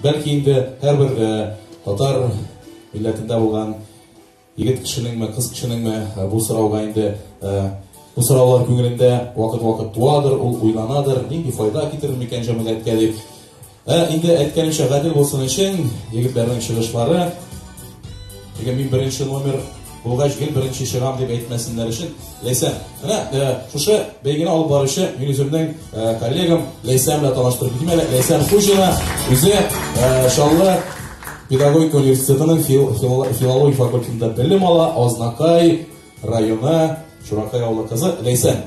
Бәлки инде һәрбер э, татар милләтендә булган егет кешенеңме, кыз кешенеңме э, бу сорауга инде э, бу сораулар күңелендә вакыт-вакыт туадыр, ул уйланадыр, нинди файда китерер микән җәмгыятькә дип. Ә инде әйткәнемчә гадел булсын өчен егетләрнең чыгышлары. Теге мин беренче номер Булгач, гел беренче чыгам дип әйтмәсеннәр өчен, Ләйсән. Менә э, шушы бәйгене алып баручы мин үземнең э, коллегам Ләйсән белән таныштырып китим әле. Ләйсән Хуҗина үзе э, Чаллы педагогика университетының фил, фил, филология факультетында белем ала, Азнакай районы Чуракай авылы кызы Ләйсән.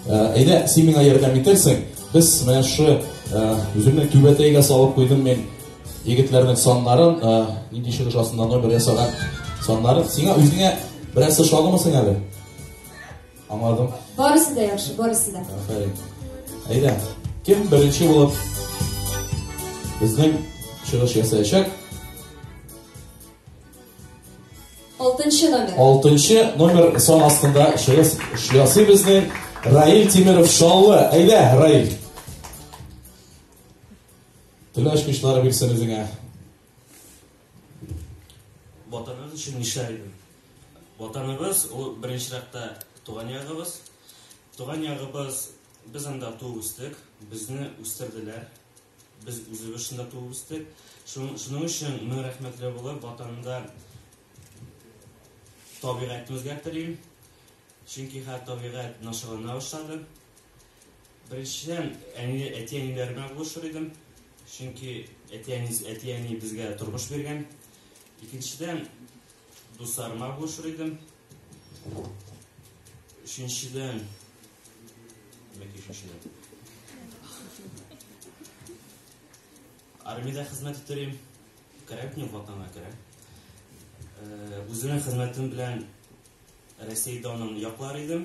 Әйдә, син миңа ярдәм итерсең. Без менә шу үземнең түбәтәйгә салып куйдым мин Егетләрнең саннарын, нинди чыгыш астында номер ясаган саннарын. Сиңа үзеңә берәрсе шагымы сиңа әле? Аңладым. Барысы да яхшы, барысы да. Афәрин. Әйдә, кем беренче булып безнең чыгыш ясаячак? Алтынчы номер. Алтынчы номер сон астында чыгыш ясый безнең Раил Тимиров Шаллы. Әйдә, Раил. Төнлә ачкычлары бирсен үзеңә. Ватаныгыз өчен нишләр идең? Ватаныгыз ул беренче рәттә туган ягыбыз. Туган ягыбыз без анда туып үстек, безне үстерделәр. Без үзебез шунда туып үстек. Шуның өчен мин рәхмәтле булып ватанымда табигатьне үзгәртелим. Чөнки хәтта табигать начарлана башлады. Беренчедән, әни, әти-әниләр белән булышыр идем, чөнки әти-әни, әти-әни безгә тормыш биргән. Икенчедән, дусларыма булышыр идем. Өченчедән, яки өченчедән. Армиядә хезмәт итәр идем. Кирәк мин ватанга кирәк. Үзенең хезмәтем белән Россиядә аның яклар идем.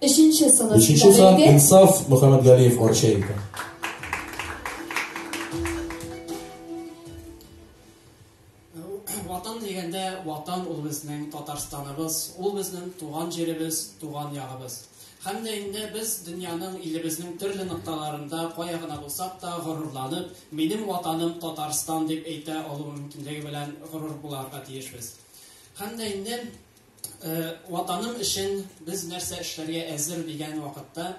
Өченче сан. Өченче сан Инсаф Мөхәммәтгалиев Арча икән. Ватан дигәндә, ватан ул безнең Татарстаныбыз, ул безнең туган җиребез, туган ягыбыз. Һәм дә инде без дөньяның илебезнең төрле нокталарында кая гына булсак та горурланып, минем ватаным Татарстан дип әйтә алу мөмкинлеге белән горур буларга тиешбез. Һәм дә инде Ватаным өчен без нәрсә эшләргә әзер дигән вакытта,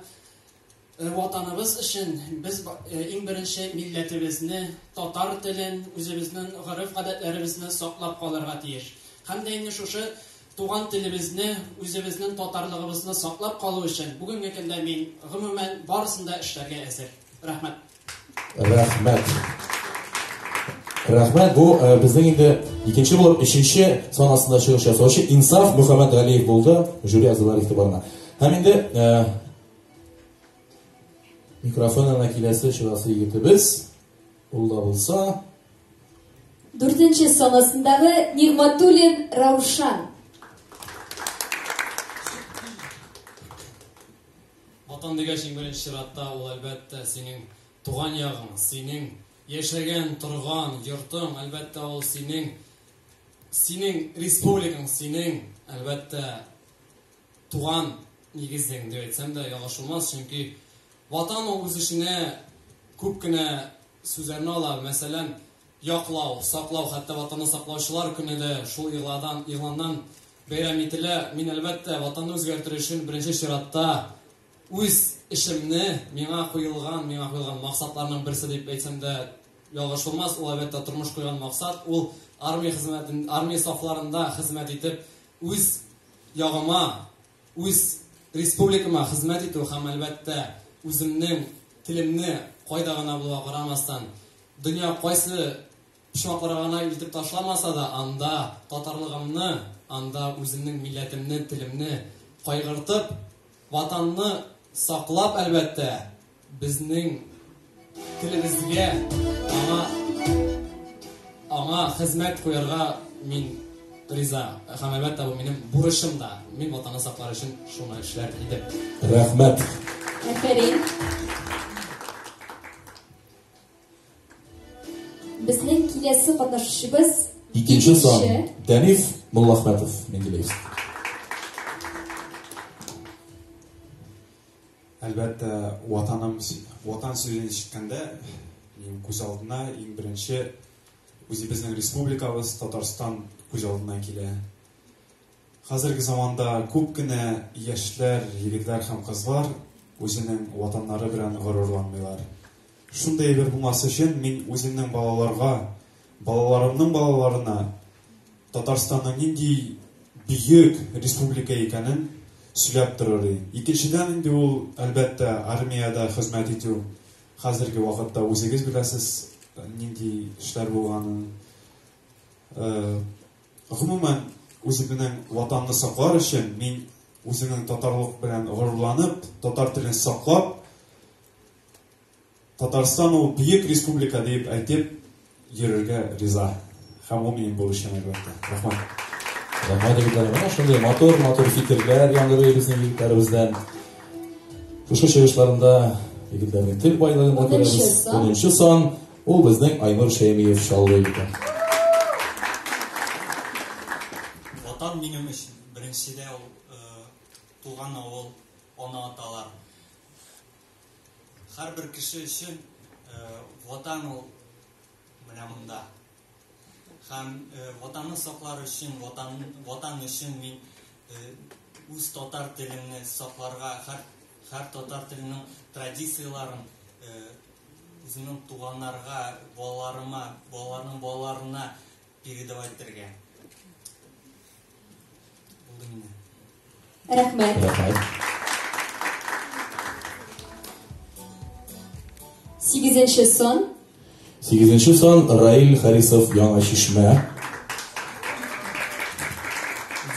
ватаныбыз өчен без иң беренче милләтебезне, татар телен, үзебезнең гореф-гадәтләребезне саклап калырга тиеш. Һәм дә инде шушы туган телебезне, үзебезнең татарлыгыбызны саклап калу өчен бүгенге көндә мин гомумән барысын да эшләргә әзер. Рәхмәт. Рәхмәт. Рәхмәт. Бу э, безнең инде икенче булып өченче санасында чыгыш ясаучы Инсаф Мөхәммәд Галиев булды. Жюри әгъзалар игътибарына. Һәм инде э, микрофон янына киләсе чыгасы егетебез ул да булса дүртенче санасындагы Нигматуллин Раушан. Ватан дигәч, иң беренче чиратта, ул, әлбәттә, синең туган ягың, синең яшәгән, торган йортың, әлбәттә, ул синең, синең республикаң, синең, әлбәттә, туган нигезең, дип әйтсәм дә ялгыш булмас, чөнки Ватан ул үз эченә күп кенә Сүзләрне ала, мәсәлән, Яклау, саклау, хәтта Ватанны саклаучылар көне дә шул игъладан, игъланнан бәйрәм ителә. Мин, әлбәттә, Ватанны үзгәртер өчен беренче чиратта үз эшемне, миңа куелган, миңа куелган максатларның берсе дип әйтсәм дә ялгыш булмас, ул, әлбәттә, тормыш куйган максат, ул армия хезмәтен, армия сафларында хезмәт итеп, үз ягыма, Үз республикама хезмәт итү һәм, әлбәттә, үземнең телемне кайда гына булуга карамастан, дөнья кайсы почмакларга гына илтеп ташламаса да, анда татарлыгымны, анда үземнең милләтемне, телемне кайгыртып, Ватанны саклап, әлбәттә, Безнең телебезгә аңа аңа хезмәт куярга мин риза. Һәм әлбәттә бу минем бурычым да. Мин ватанны саклар өчен шуны эшләр идем. Рәхмәт. Афәрин. Безнең киләсе катнашучыбыз икенче сан Даниф Муллахмәтов Менделеевск. Әлбәттә, Ватаным, Ватан сүзен ишеткәндә, минем күз алдына иң беренче үзебезнең республикабыз Татарстан күз алдына килә. Хәзерге заманда күп кенә яшьләр, егетләр һәм кызлар үзенең ватаннары белән горурланмыйлар. Шундый әйбер булмас өчен мин үземнең балаларга, балаларымның балаларына Татарстанның нинди бөек республика икәнен сөйләп торыр. Икенчедән инде ул, әлбәттә, армиядә хезмәт итү. Хәзерге вакытта үзегез беләсез, нинди эшләр булганын. Э, гомумән, үзебезнең ватанны саклар өчен мин үземнең татарлык белән горурланып, татар телен саклап, Татарстан ул бөек республика дип әйтеп йөрергә риза. Һәм ул минем бурычым әлбәттә. Рәхмәт. Рәхмәт егетләр. Менә шундый матур, матур фикерләр яңгырый безнең егетләребездән. Шушы чыгышларында егетләрнең тел байлыгын да күрәбез. 10 сан ул безнең Айнур Шәймиев шаулый икән. Ватан минем өчен беренчедә ул э, туган авыл, ана-аталар. Һәрбер кеше өчен э, ватан ул менә монда. Һәм э, ватанны саклар өчен, ватан, ватан өчен мин э, үз татар телемне сакларга, һәр, һәр татар теленең традицияләрен үземнең туганнарга, балаларыма, балаларның балаларына Передавай бетергә. Булды инде. Рәхмәт. Рәхмәт. Сигезенче сон. Сигезенче сон Раил Харисов Яңа Чишмә.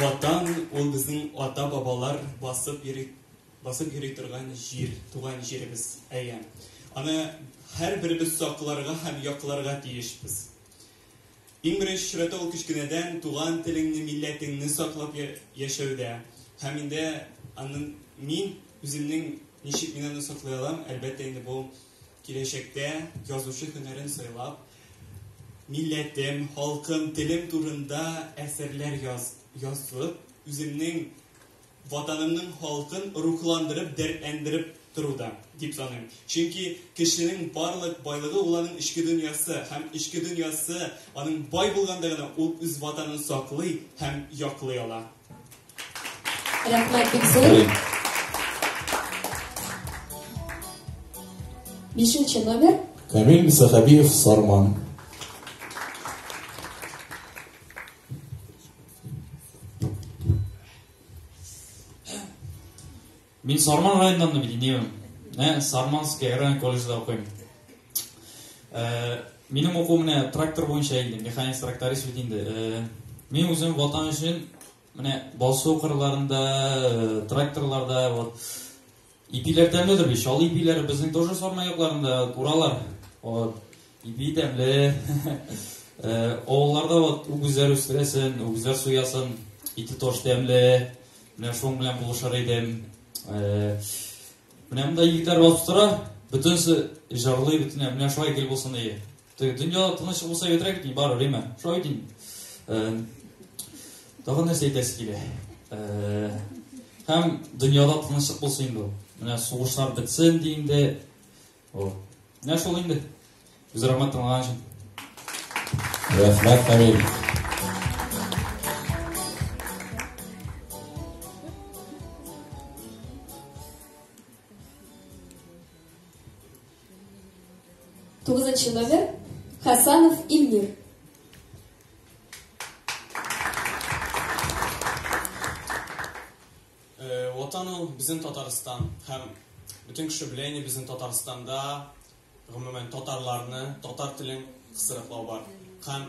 Ватан ул безнең ата-бабалар басып йөри басып йөри торган җир, туган җиребез. Әйе. Аны һәрберебез сакларга һәм якларга тиешбез. Иң беренче чиратта ул кечкенәдән туган телеңне, милләтеңне саклап яшәүдә. Һәм инде анын мин үземнең ничек мин аны саклый алам, әлбәттә инде бу киләчәктә язучы һөнәрен сайлап, милләтем, халкым, телем турында әсәрләр яз, язып, үземнең Ватанымның халкын рухландырып, дәртләндереп тору да, дип саныйм. Чөнки кешенең барлык байлыгы ул аның эчке дөньясы һәм эчке дөньясы аның бай булганда гына ул үз ватанын саклый һәм яклый ала. Рәхмәт бик зур. Бишенче номер. Камил Мисахабиев Сарман. Мин Сарман районыннан бит инем. Менә Сарманский район колледжда укыйм. Э, минем уку менә трактор буенча инде, механик тракторист бит инде. Э, мин үзем ватан өчен менә басу кырларында, э, тракторларда вот Ипиләр тәмледер бит, чал ипиләр безнең тоже сарма якларында уралар. Вот. Ипи тәмле. Авылларда вот үгезләр үстерәсен, үгезләр суясын, ите тоже тәмле. Менә шуның белән булышыр идем. Менә монда егетләр басып тора, бөтенесе җырлый, бөтенләй менә шулай гел булсын ие. Дөнья тыныч булса бетерә бит, бар время. Шулай дим. Тагын нәрсә әйтәсе килә. Һәм дөньяда тынычлык булсын инде ул. Менә сугышлар бетсен ди инде. О. Менә шул инде. Үз рәхмәт тыңлаган өчен. Рәхмәт, Камил. Тугызынчы номер Хасанов Ильмир. Э, Ватан ул безнең Татарстан һәм бөтен кеше белә инде безнең Татарстанда гомумән татарларны, татар телен кысрыклау бар. Һәм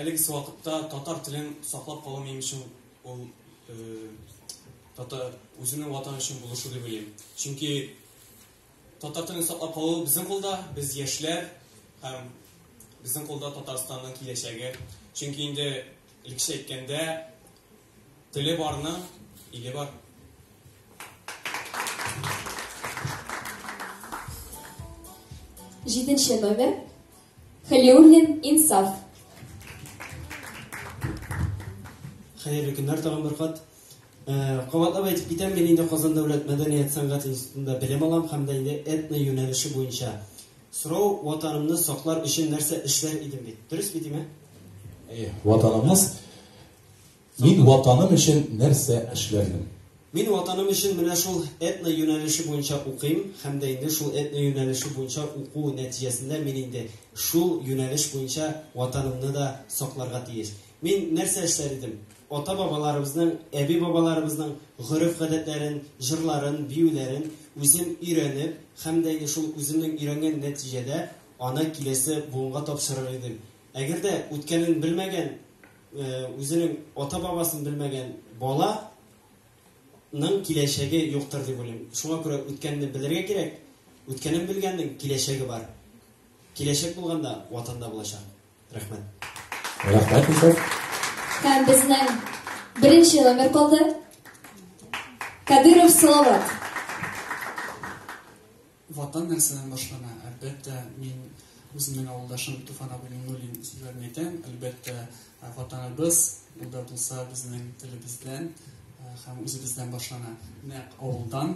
әлеге вакытта татар телен саклап калу минем өчен ул э, татар үзенең ватаны өчен булышу дип уйлыйм. Чөнки Татар телен саклап калу безнең кулда, без яшьләр һәм безнең кулда Татарстанның киләчәге. Чөнки инде илкеше әйткәндә теле барның иле бар. Җиденче номер Халиуллин Инсаф. Хәерле көннәр тагын бер кат. Э, кабатлап әйтеп китәм, мин инде Казан дәүләт мәдәният сәнгать институтында белем алам һәм дә инде этно юнәлеше буенча. Сорау ватанымны саклар өчен нәрсә эшләр идем бит. Дөрес бит име? Әйе, ватанымыз Мин ватаным өчен нәрсә эшләрмен? Мин ватаным өчен менә шул этно юнәлеше буенча укыйм һәм дә инде шул этно юнәлеше буенча уку нәтиҗәсендә мин инде шул юнәлеш буенча ватанымны да сакларга тиеш. Мин нәрсә эшләр идем? Ата-бабаларыбызның, әби-бабаларыбызның гореф-гадәтләрен, җырларын, биюләрен үзем өйрәнеп һәм дә инде шул үземнең өйрәнгән нәтиҗәдә аны киләсе буынга тапшырыр идем. Әгәр дә үткәнен белмәгән, үзенең ата-бабасын белмәгән бала ның киләчәге юктыр дип уйлыйм. Шуңа күрә үткәнне белергә кирәк. Үткәнен белгәннең киләчәге бар. Киләчәк булганда ватанда булачак. Рәхмәт. Рәхмәт исән. Һәм безнең беренче номер калды. Кадыров Салават. Ватан нәрсәдән башлана? Әлбәттә, мин үземнең авылдашым Туфан абый Миңнуллин сүзләрен әйтәм. Әлбәттә, ватаныбыз, ул да булса безнең телебездән һәм үзебездән башлана. Нәкъ авылдан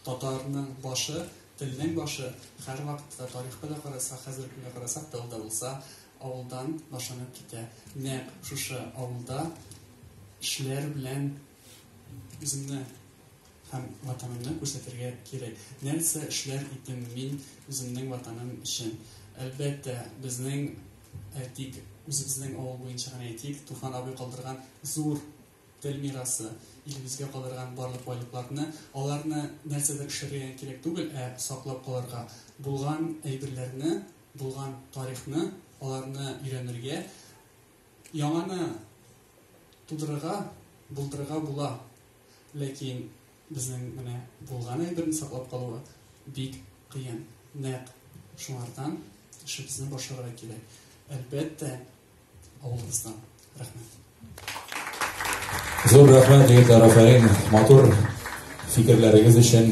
Татарның башы, телнең башы, һәрвакытта тарихка да карасак, хәзерге көнгә карасак та ул да булса авылдан башланып китә. Нәкъ шушы авылда кешеләр белән үземне һәм ватанымны күрсәтергә кирәк. Нәрсә эшләр идем мин үземнең ватаным өчен? Әлбәттә, безнең әйтик, үзебезнең авыл буенча гына әйтик, Туфан абый калдырган зур тел мирасы, илебезгә калдырган барлык байлыкларны, аларны нәрсәдә эшләргә кирәк түгел, ә саклап калырга, булган әйберләрне, булган тарихны, аларны өйрәнергә, яңаны тудырырга, булдырырга була. Ләкин безнең менә булган әйберне саклап калуы бик кыен. Нәкъ шуңардан эшебезне башларга кирәк. Әлбәттә, Авылыбыздан. Рәхмәт. Зур рәхмәт, егетләр, афәрин. Матур фикерләрегез өчен.